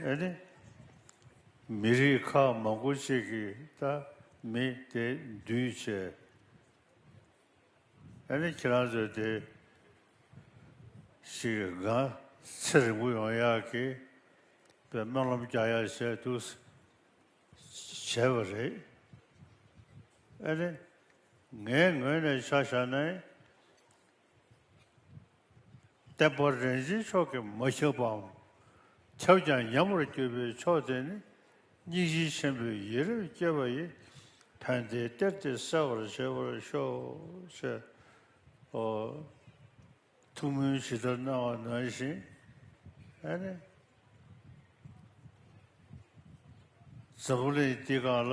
ཨེ་ནི། མི་རིགས་ཁག་མང་པོ་གཅིག་གིས་ད་མི་དེ་འདུས་བྱས། ཨེ་ནི་ཁྱེད་རང་ཚོས་དེ་ཞིག་སྒང་ཚེ་རིང་པོ་ཡོང་ཡག་གི་པའི་སྨོན་ལམ་རྒྱག་ཡག་བྱས་འདུག་ཟེར་བྱས་པ་རེད། ཨེ་ནི། ངའི་ངོས་ནས་ཆ་བཞག་ནས། བརྟན་པ་རིན་ཆེན་མཆོག་གིས་མ་ཁྱབ་པའམ་ཁྱབ་ཀྱང་ཉམས་པར་གྱུར་པའི་མཆོག་དེ་ནི་སྙིང་རྗེ་ཆེན་པོའི་ཡིད་རབ་བསྐྱེད་པ་ཡི་དོན་དེའི་གཏེར་དེ་གསལ་བར་བྱེད་པར་ཤོག། ཐུགས་སྨོན་ཇི་ལྟར་གནང་བ་ནང་བཞིན་ནི། འཛམ་བུ་གླིང་འདི་གང་ལ་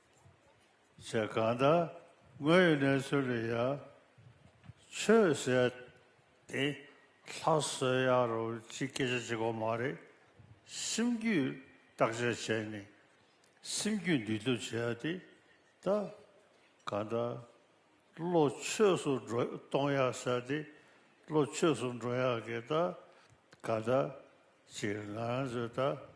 ཞེས་གང་དག་དངོས་ཡོད་གནས་ཚུལ་ལ་ཡང་ཆོས་ཟེར་ཏེ་ལྷ་གསོལ་ཡ་རོ་ཅི་སྐད་ཆ་བྱེད་དགོས་མ་རེད། སེམས་རྒྱུད་བརྟག་དཔྱད་བྱས་ནས་སེམས་རྒྱུད་འདུལ་ཐབས་བྱས་ཡ་དེ་ད་གང་དག་བློ་ཆོས་སུ་འགྲོ་གཏོང་ཡ་ཟེར་ཏེ་བློ་ཆོས་སུ་འགྲོ་ཡ་གི་ད་གང་དག་ཅིག་ང་ཚོས་ད།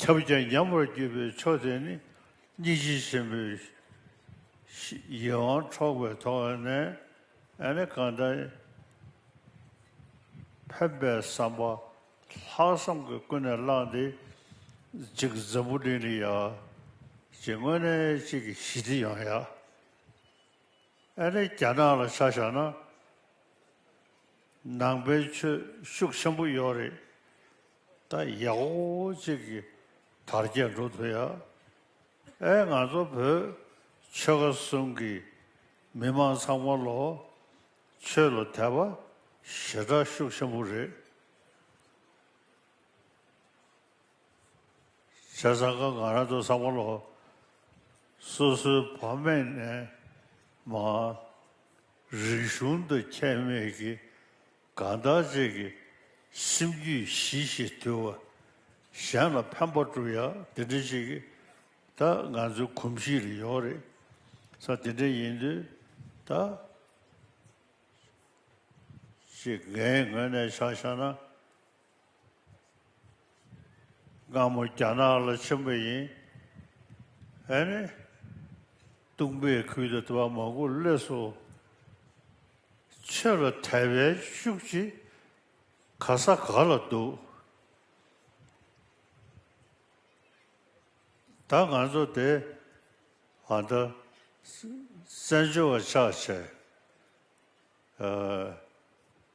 ཁྱབ་བྱེད་མཉམ་པར་བརྒྱུད་པའི་མཆོག་དེ་ནི་སྙིང་རྗེ་ཆེན་པོའི་ཡིད་དབང་འཕྲོག་པའི་ཐོག་ནས་ནི་གང་དག་ཕན་པའི་བསམ་པ་ལྷག་བསམ་གྱིས་ཀུན་ནས་བསླངས་ཏེ་གཅིག་འཛམ་བུ་གླིང་ལ་ཡང་གཅིག་དངོས་གནས་གཅིག་གི་ཞི་བདེ་ཡང་ཡང་ནི་རྒྱ་ནག་ལ་ཆ་བཞག་ན་ནང་པའི་ཆོས་ཤུགས་ཆེན་པོ་ཡོད་རེད། ད་ཡག་པོ་གཅིག་གི་དར་རྒྱས་འགྲོ་ཐུབ་ཡ། ཨེ་ང་ཚོ་བོད་ཆོལ་ཁ་གསུམ་གི་མི་མང་ཚང་མ་ལོ་ཆོས་ལ་དད་པ་ཞེ་དྲག་ཤུགས་ཆེན་པོ་རེད། བྱས་ཙང་ཁ་ང་རང་ཚོ་ཚང་མ་ལོ་སོ་སོའི་བ་མེད་ནས་མ་རིག་གཞུང་དུ་ཁྱད་མེད་ཀྱི་གང་དག་རྗེས་ཀྱི་སེམས་རྒྱུད་ཞི་ཞེས་དུལ་བ། གཞན་ལ་ཕན་པ་བསྒྲུབ་ཡ་དེ་འདྲའི་ཞིག་གིས་ད་ང་ཚོའི་གོམས་གཤིས་ལ་ཡོང་རེད། ས་དེ་འདྲ་ཡིན་དུས་ད་ཅིག་ངའི་ངོས་ནས་བྱ་བཞག་ན། སྒ་མོ་རྒྱ་ནག་ལ་ཆེན་པོ་ཡིན། ཨེ་ནི། ཏུང་པའི་ཁུལ་དུ་དེ་བ་མང་པོ་གློད་སོ། ཆོས་ལ་དད་པའི་ཤུགས་ཀྱིས་ག་ས་ག་ལ་འདུག། ད་ང་ཚོ་དེ་ཨ་མདའ། བཙན་བྱོལ་བ་ཆགས་བྱས།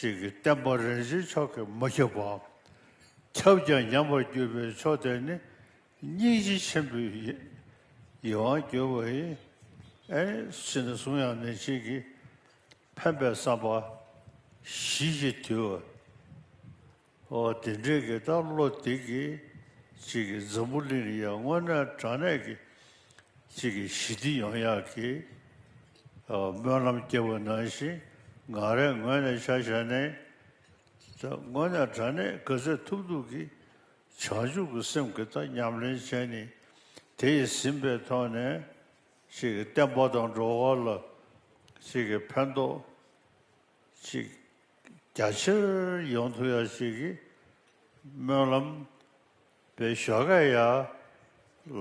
ཞིག་གིས་བསྟན་པ་རིན་ཆེན་མཆོག་གིས་མ་ཁྱབ་པའམ་ཁྱབ་ཀྱང་ཉམས་པར་གྱུར་པའི་མཆོག་དེ་ནི་སྙིང་རྗེ་ཆེན་པོའི་ཡིད་དབང་བསྒྱུར་བ་ཡིན། ཕྱིས་ན་གསུང་དབྱངས་ནི་གཅིག་གིས་ཕན་པའི་བསམ་པ་བཞི་ཀྱི་དུས། དེ་འབྲེལ་གྱི་སྟག་ལོ་སྟེགས་ཀྱི་གཅིག་གི་འཛམ་བུ་གླིང་ཡང་དངོས་གནས་དྲང་གནས་ཀྱི་གཅིག་གི་ཞི་བདེ་ཡོང་ཡག་གི་སྨོན་ལམ་སྐྱེ་བོ་ནང་བཞིན་ངང་རེ་ངོས་ནས་བྱ་བྱས་ནས་དངོས་གནས་དྲང་གནས་ག་ཚད་ཐུབ་ཐུབ་ཀྱི་བྱང་ཆུབ་ཀྱི་སེམས་ཀྱི་དང་ཉམས་ལེན་བྱས་ནས་དེ་ཡི་ཟིན་པའི་ཐོག་ནས་གཅིག་གི་བསྟན་པ་དང་འགྲོ་བ་ལ་གཅིག་གི་ཕན་ཐོགས་ཅིག། རྒྱ་ཆེར་ཡོང་ཐུབ་ཡ་ཞིག་གི་སྨོན་ལམ། པའི་ཞོ་ཁས་ཡ།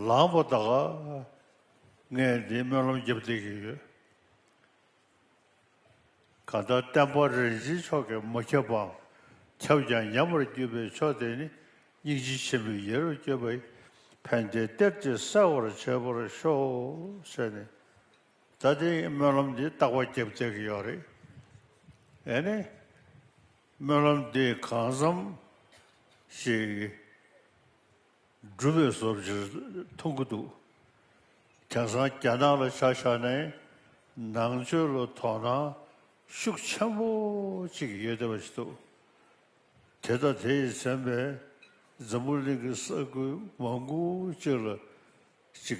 ལངས་པོ་ད་ག། ངས་འདི་སྨོན་ལམ་རྒྱབ་སྡིག་གི་ཡོད། ག་ད་བསྟན་པ་རིན་ཆེན་མཆོག་གི་མ་ཁྱབ་པའམ་ཁྱབ་ཀྱང་ཉམས་པར་བརྒྱུད་པའི་ཕྱོགས་དེ་ནི་སྙིང་རྗེ་ཆེན་པོའི་ཡེ་རུ་བསྐྱོད་པའི་ཕན་བདེའི་གཏེར་གྱིས་གསལ་བར་བྱས་པར་ཤོག་བྱས་ནས། ད་ལྟའི་སྨོན་ལམ་འདི་རྟག་པ་བརྒྱབ་བསྡད་ཀྱི་ཡོད་རེད། ཨེ་ནས། སྨོན་ལམ་འདི་གང་བསམ་ཞིག་སྒྲུབ་པའི་བཟོ་བྱེད་མཐོང་གི་འདུག་དེང་སང་རྒྱ་ནག་ལ་ཆ་བཞག་ནས་ནང་ཆོས་ལ་དོ་སྣང་ཤུགས་ཆེན་པོ་ཅིག་ཡོད་བསྡད་པ་ཞིག་འདུག་དེ་ལྟ་དེ་ཡི་མཚན་པས་འཛམ་བུ་གླིང་གི་ས་ཁུལ་མང་པོ་ཅིག་ལ་ཅིག་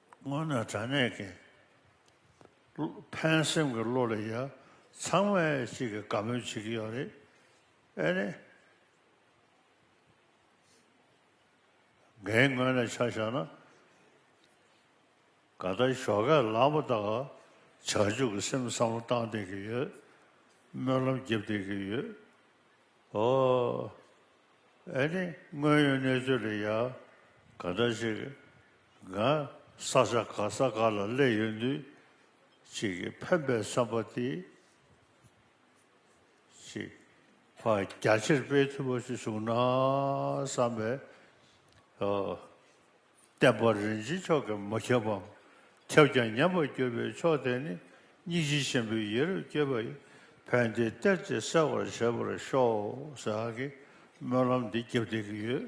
སྔོན་ནས་དྲང་གནས་མཁན། ཕན་སེམས་ཀྱི་བློ་ལས་ཡར། ཚང་མས་གཅིག་གི་དགའ་མོས་བྱེད་ཀྱི་ཡོད་རེད། ཨེ་ནས། འགན་ངོས་ནས་ཆ་བཞག་ན། ག་ད་ཞོགས་ཁས་ལངས་པ་དག་བྱ་འཇུག་གི་སེམས་བསམ་བློ་བཏང་བསྡད་ཀྱི་ཡོད། སྨོན་ལམ་རྒྱབ་བསྡད་ཀྱི་ཡོད། ཨོ། ཨེ་ནས། དངོས་ཡོད་གནས་ཚུལ་ལས་ཡར། ག་ད་ཞིག། འགའ། ས་ཆ་ག་ས་ག་ལ་གླས་ཡོད་དུས། གཅིག་གིས་ཕན་པའི་བསམ་པ་དེ། གཅིག། བ་རྒྱ་ཆེར་སྤེལ་ཐུབ་པ་ཞིག་བྱུང་ན་བསམ་པས། བརྟན་པ་རིན་ཆེན་མཆོག་གིས་མ་ཁྱབ་བམ། ཁྱབ་ཀྱང་ཉམས་པར་གྱུར་པའི་མཆོག་དེ་ནི། སྙིང་རྗེ་ཆེན་པོའི་ཡེ་རབ་བསྐྱེད་པ་ཡི། ཕན་བདེའི་གཏེར་གྱིས་གསལ་བར་བྱེད་པར་ཤོག། ཟེར་བ་གིས་སྨོན་ལམ་འདི་རྒྱབ་བསྡད་ཀྱི་ཡོད།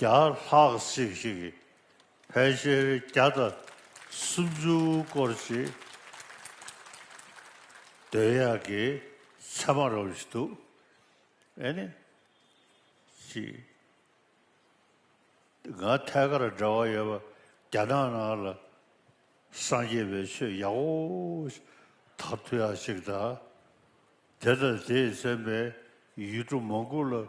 བརྒྱ་ལྷག་ཅིག་ཞིག་གིས་ཕལ་ཆེར་བརྒྱ་དང་སུམ་ཅུ་སྐོར་ཅིག་འདོད་ཡག་གི་ཚད་མ་རོགས་བཞིན་འདུག་ཨེ་ནི། ཅི། ང་ཐད་ཀར་འབྲེལ་བ་ཡོད་པ་རྒྱ་ནག་ནང་ལ་སངས་རྒྱས་པའི་ཆོས་ཡག་པོ་དག་ཐུག་ཡག་ཅིག་དང། དེ་དང་དེས་མཚོན་པའི་ཡུལ་གྲུ་མང་པོ་ལ།